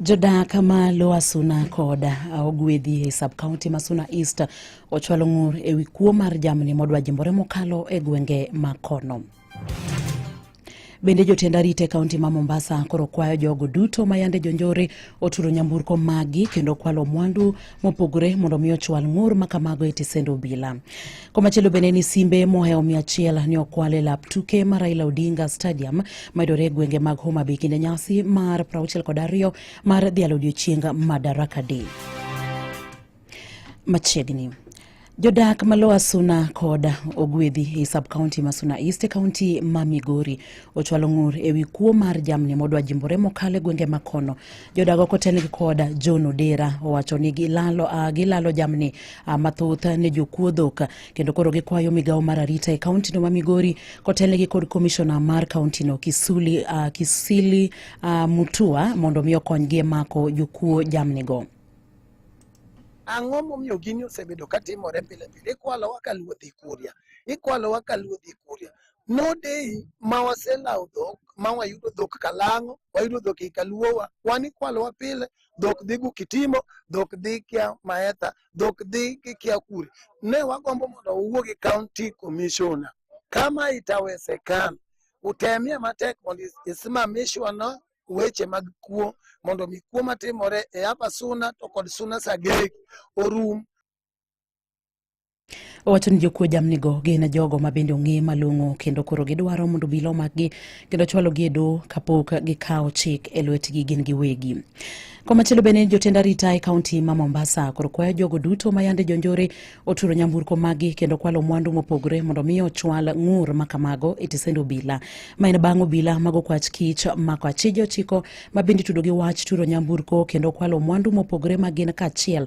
Jodak ma Lower Suna kod ogwedhi e sub-county ma Suna East ochwalo ng'ur e wi kuo mar jamni modwa jimbore mokalo e gwenge ma kono. Bende jotend arita e kaunti ma Mombasa koro kwayo jogo duto ma yande jonjore oturo nyamburko magi kendo kwalo mwandu mopogore mondo mi ochwal ng'ur ma kamago e tisend obila. Komachielo bende ni simbe mohewo mia achiel ne okwal e lap tuke ma Raila Odinga Stadium mayudore e gwenge mag Homa Bay kinde nyasi mar 62 kod ariyo mar dhialo odiechieng Madaraka Day machiegni. Jodak ma Lower Suna kod Ogwedhi e sub-county ma Suna East e kaunti ma Migori ochwalo ng'ur ewi kuo mar jamni modwa jimbore mokalo e gwenge ma kono jodago kotelnigi kod John Odera owacho ni gilalo, uh, gilalo jamni uh, mathoth ne jokuo dhok kendo koro gikwayo migawo mar arita e kauntino ma Migori kotelnigi kod komishona mar kauntino Kisuli, uh, Kisili uh, Mutua mondo mi okonygi e mako jokuo jamnigo. Ang'o momiyo gini osebedo katimore pile pile? Ikwalowa ka luodhi kuria, ikwalowa ka luodhi kuria. No day ma waselawo dhok ma wayudo dhok Kalang'o, wayudo dhok ei Kaluowa, wan ikwalowa pile, dhok dhi Gukitimo, dhok dhi kia Maetha, dhok dhi ki- kia Kure. Ne wagombo mondo wawuo gi county commissioner kama itawezekana, utemie matek mondo is- isimamishwa na weche mag kuo mondo mi kuo matimore e Abasuna to kod Suna Sagegi orum Owacho ni jokuo jamnigo gin jogo ma bende ong'e malong'o kendo koro gidwaro mondo obila omakgi kendo chwalogi e doho kapok gikawo chik e lwetgi gin giwegi. Komachielo bende jotend arita e kaunti ma Mombasa koro kwayo jogo duto ma yande jonjore oturo nyamburko maggi kendo kwalo mwandu mopogore mondo mi ochwal ng'ur ma kamago e tisend obila. Ma en bang' obila mago kwach kich mako achije ochiko ma bende itudo gi wach turo nyamburko kendo kwalo mwandu mopogore ma gin kaachiel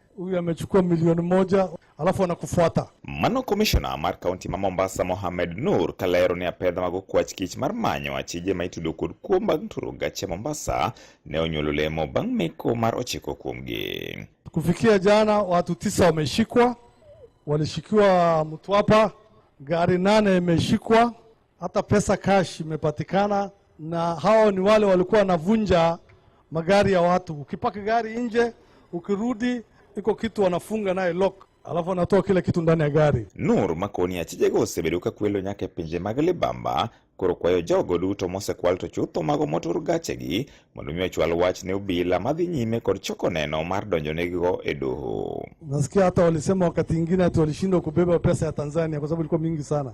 huyu amechukua milioni moja alafu anakufuata. Mano komishona mar kaunti ma Mombasa Mohamed Nur kalero ni apedha mag okwach kich mar manyo achije ma itudo kod kuo mag turo gache Mombasa ne onyuolo lemo bang' meko mar ochiko kuomgi. Kufikia jana watu tisa wameshikwa, walishikiwa Mtwapa, gari nane imeshikwa hata pesa cash imepatikana, na hao ni wale walikuwa wanavunja magari ya watu. Ukipaka gari nje, ukirudi iko kitu wanafunga naye lock alafu anatoa kila kitu ndani ya gari. Nur makoni achije gosebeduka kwelo nyake pinje mag libamba koro kwayo jogo duto mosekwal to chutho mago motur gachegi mondo mi ochwal wach ne obila madhi nyime kod choko neno mar donjo negigo e doho. Nasikia hata walisema wakati ingine ati walishindwa kubeba pesa ya Tanzania kwa sababu ilikuwa mingi sana.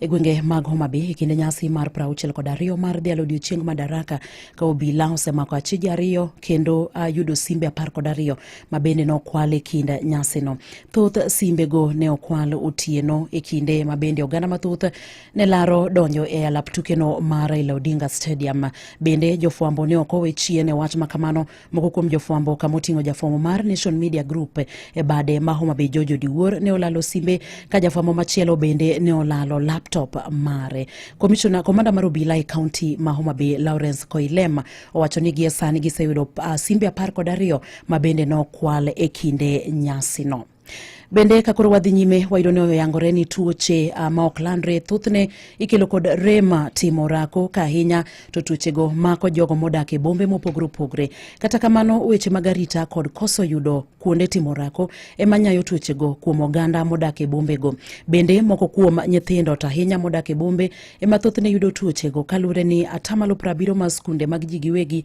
e gwenge mag Homabay e kinde nyasi mar prauchiel kod ariyo mar dhialo odiochieng Madaraka ka obila osemako achiji ariyo kendo uh, yudo simbe apar kod ariyo ma bende nokwal e kind nyasino. Thoth simbego ne okwal otieno e kinde ma bende oganda mathoth ne laro donjo e alap tukeno mar Raila Odinga Stadium. Bende jofwambo ne ok owe chien e wach makamano Moko kuom jofwambo kama oting'o jafwambo mar Nation Media Group e bade ma Homa Bay George Odiwuor ne olalo simbe ka jafwambo machielo bende ne olalo laptop mare. Komishona komanda mar obila e kaunti ma Homa Bay Lawrence Koilem owacho ni gie sani giseyudo uh, simbe apar kod ariyo ma bende nokwal e kinde nyasino. Bende ka koro wadhi nyime wayudo ni oyangore ni tuoche uh, ma ok landre thothne ikelo kod rema timo orako ka ahinya to tuochego mako jogo modak e bombe mopogore opogore. Kata kamano weche mag arita kod koso yudo kuonde timo orako ema nyayo tuochego kuom oganda modak e bombego. Bende moko kuom nyithindo to ahinya modak e bombe ema thothne yudo tuochego kaluwore ni atamalo prabiro ma skunde mag ji giwegi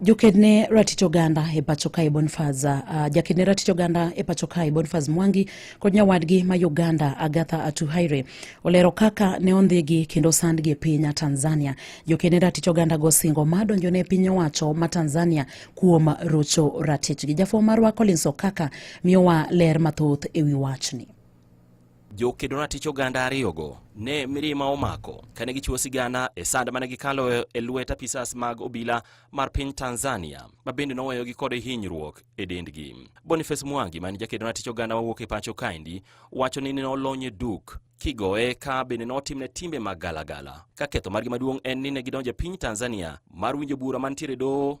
Jokedne ratich oganda e pacho kae Bonfaz uh, ah, jakedne ratich oganda e pacho kae Bonfaz Mwangi kod nyawadgi ma Uganda Agatha Atuhaire olero kaka ne ondhigi kendo sandgi e piny Tanzania. Jokedne ratich oganda go singo ma donjone e piny owacho ma Tanzania kuom rocho ratichgi. Jafwamb marwa Collins Okaka miyowa ler mathoth e wi wachni. Jokedo natich oganda ariyogo ne mirima omako kane gichiwo sigana e sand mane gikalo e lwet apisas mag obila mar piny Tanzania ma bende noweyogi kod hinyruok e dendgi. Boniface Mwangi man jakedo natich oganda mawuok e pacho kaendi wacho ni nolonye duk kigoye ka bende notimne timbe mag galagala ka ketho margi maduong' en ni ne gidonjo e piny Tanzania mar winjo bura mantiere doho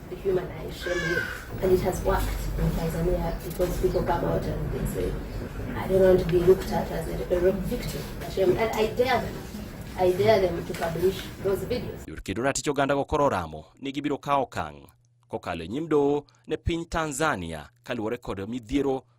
Yurki Durati Choganda go koro ramo ni gibiro kawo okang' kokalo e nyim doho ne piny Tanzania kaluwore kod midhiero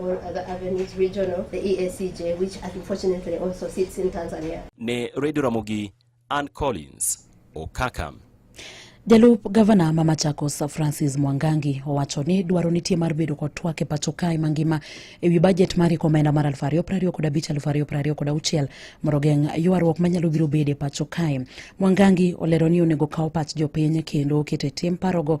all other avenues regional, the EACJ, which unfortunately also sits in Tanzania. Ne Radio Ramogi Ann Collins Okaka. Jalup gavana ma Machakos Francis Mwangangi owacho ni dwaro nitie mar bedo kod twak e pacho kae mangima e wi bajet mar iko omenda mar 2025 kod 2026 mondo ogeng' ywaruok manyalo biro bedo e pacho kae. Mwangangi olero ni onego kaw pach jopiny kendo oket e tim parogo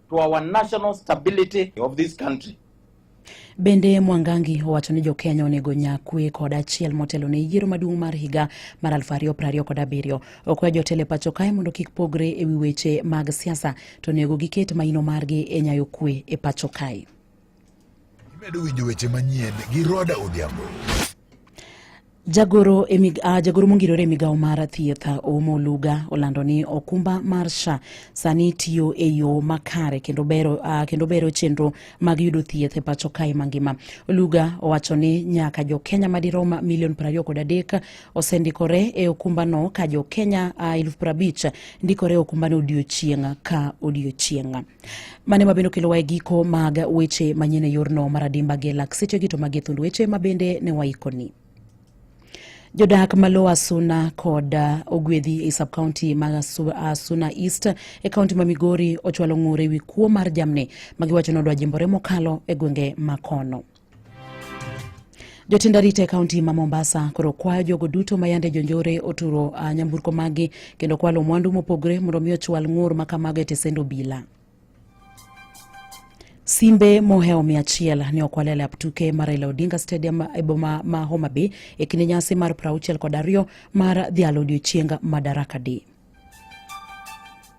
to our national stability of this country. Bende Mwangangi owacho ni Jokenya onego nya kwe kod achiel motelo ne yiero maduong' mar higa mar 2027 kod abiriyo. Okwayo jotelo e pacho kae mondo kik pogre e wi weche mag siasa to onego giket maino margi e nyayo kwe e pacho kae. Imedo winjo weche manyien gi Roda Odhiambo. Jagoro, e mig, uh, jagoro mongirore e migawo mar thieth Oumo Luga olando ni okumba mar SHA sani tiyo e yo makare kendo bero, uh, kendo bero chenro mag yudo thieth e pacho kae mangima. Luga owacho ni nyaka jo Kenya madirom milion prariyo kod adek osendikore e okumbano ka jo Kenya uh, eluf prabich ndikore e okumbano odiochieng' ka odiochieng'. Mane mabende okelowa e giko mag weche manyien e yorno mar adimba gi lak sechegi to magi e thund weche mabende ne waikoni. Jodak ma lowo Asuna kod uh, Ogwedhi e sub county ma Asuna uh, East e kaunti ma Migori ochwalo ng'ur e wi kuo mar jamni ma giwacho ni odwa jimbore mokalo e gwenge ma kono. Jotend arita e kaunti ma Mombasa koro kwayo jogo duto ma yande jonjore oturo uh, nyamburko maggi kendo kwalo mwandu mopogore mondo mi ochwal ng'ur ma kamago e tesend obila. Simbe mohewo mia achiel ne okwal e lap tuke mar Raila Odinga Stadium e boma ma Homa Bay e kinde nyasi mar 60 kod ariyo mar dhialo odiechieng Madaraka Day.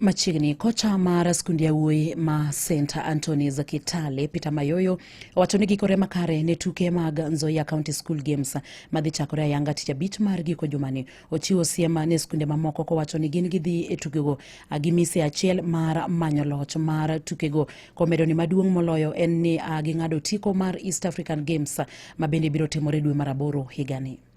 Machiegni kocha mar skund yawuoyi ma St Anthony's Kitale Peter Mayoyo owacho ni gikore makare ne tuke mag Nzoia County School Games madhi chakore ayanga tich abich mar giko jumani. Ochiwo siem ne skunde mamoko kowacho ni gin gidhi e tukego gi mise achiel mar manyo loch mar tukego komedo ni maduong' moloyo en ni ging'ado otiko mar East African Games ma bende biro timore dwe mar aboro higani.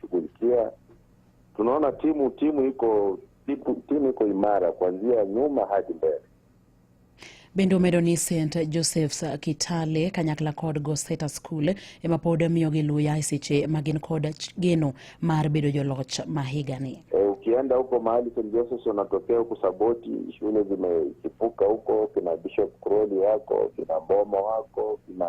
shughulikia. Tunaona timu timu iko timu, timu iko imara kuanzia nyuma hadi mbele. Bende omedo ni St Josephs Kitale kanyakla kod Goseta School ema pod miyogi luya e seche ma gin kod geno mar bedo joloch ma higani. E, ukienda huko mahali St Josephs wanatokea huku Saboti, shule zimechipuka huko, kina Bishop Crowley wako, kina Mboma wako, kina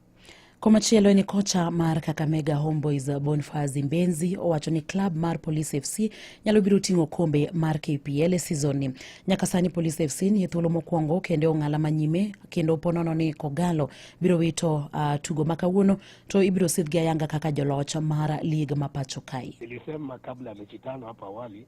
Komachielo ni kocha mar Kakamega Homeboys Bonfazi Mbenzi owacho ni klab mar Police FC nyalo biro ting'o kombe mar KPL e season ni. Nyaka sani Police FC ni e thuolo mokwongo kendo e ong'ala manyime kendo ponono ni Kogalo biro wito uh, tugo ma kawuono to ibiro sidhgi ayanga kaka joloch mar lig ma pacho kae. Nilisema kabla ya mechi tano hapa awali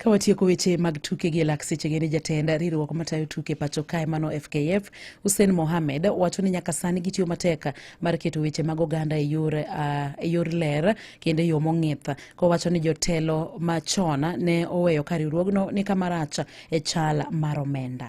Ka watieko weche mag tuke gi lak sechege ni jatend riwruok matayo tuke pacho kae mano FKF Hussein Mohamed wacho ni nyaka sani gitiyo matek mar keto weche mag oganda e yor, uh, e yor ler kendo e yo mong'ith kowacho ni jotelo machon ne oweyo ka riwruogno ni kamarach e chal mar omenda.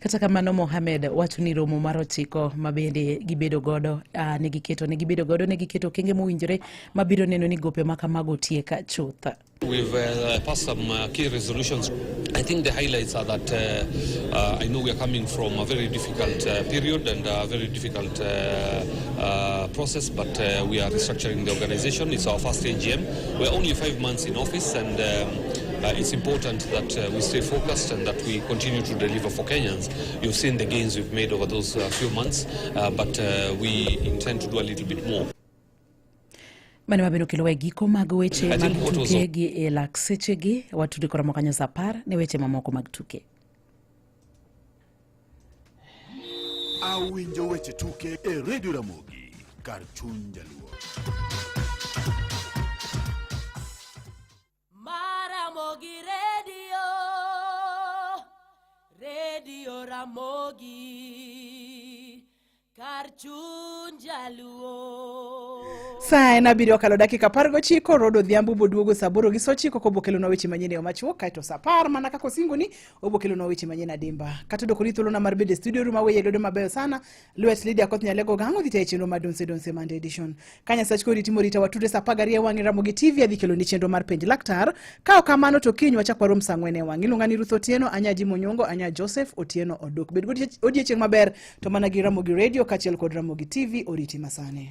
Kata kamano Mohamed wacho ni romo mar ochiko ma bende gibedo godo uh, ne giketo ne gibedo godo ne giketo okenge mowinjore ma biro neno ni gope ma kamago tiek chuth. We've uh, passed some uh, key resolutions. I think the highlights are that uh, uh, I know we are coming from a very difficult uh, period and a very difficult uh, uh, process, but uh, we are restructuring the organization. It's our first AGM. We're only five months in office and um, Uh, it's important that uh, we stay focused and that we continue to deliver for Kenyans. You've seen the gains we've made over those uh, few months, uh, but uh, we intend to do a little bit more. mane wabedo kelo e giko mag weche I mag think what was tuke gi e lak sechegi watude kora mokanyo sa apar ne weche mamoko mag tuke awinjo weche tuke e redio ramogi kar chuny jaluo Maramogi redio, redio Ramogi, kar chuny jaluo. Saa en abiriyo okalo dakika apar gochiko Rod Odhiambo boduogo saa aboro gi saa ochiko kobokelonwa weche manyien e yo machuok kaeto saa apar mana kaka osingoni obokelonwa weche manyien adimba kata doko ni thuolona mar bedo e studio ru maweye lwedo mabeyo sana Lwet Lydia Koth Nyalego gang' odhi tayo chenro mar Donse Donse Monday Edition. Ka Nyasach kori timo rita watude sa apar gariyo e wang'e Ramogi TV adhi keloni chenro mar penj laktar. Ka ok kamano to kiny wachak warom sa ang'wen e wang'e. Iluonga ni Ruth Otieno, anya Jim Onyongo, anya Joseph Otieno Odok. Bed godie- odiechieng' maber to mana gi Ramogi Radio kaachiel kod Ramogi TV oriti masani.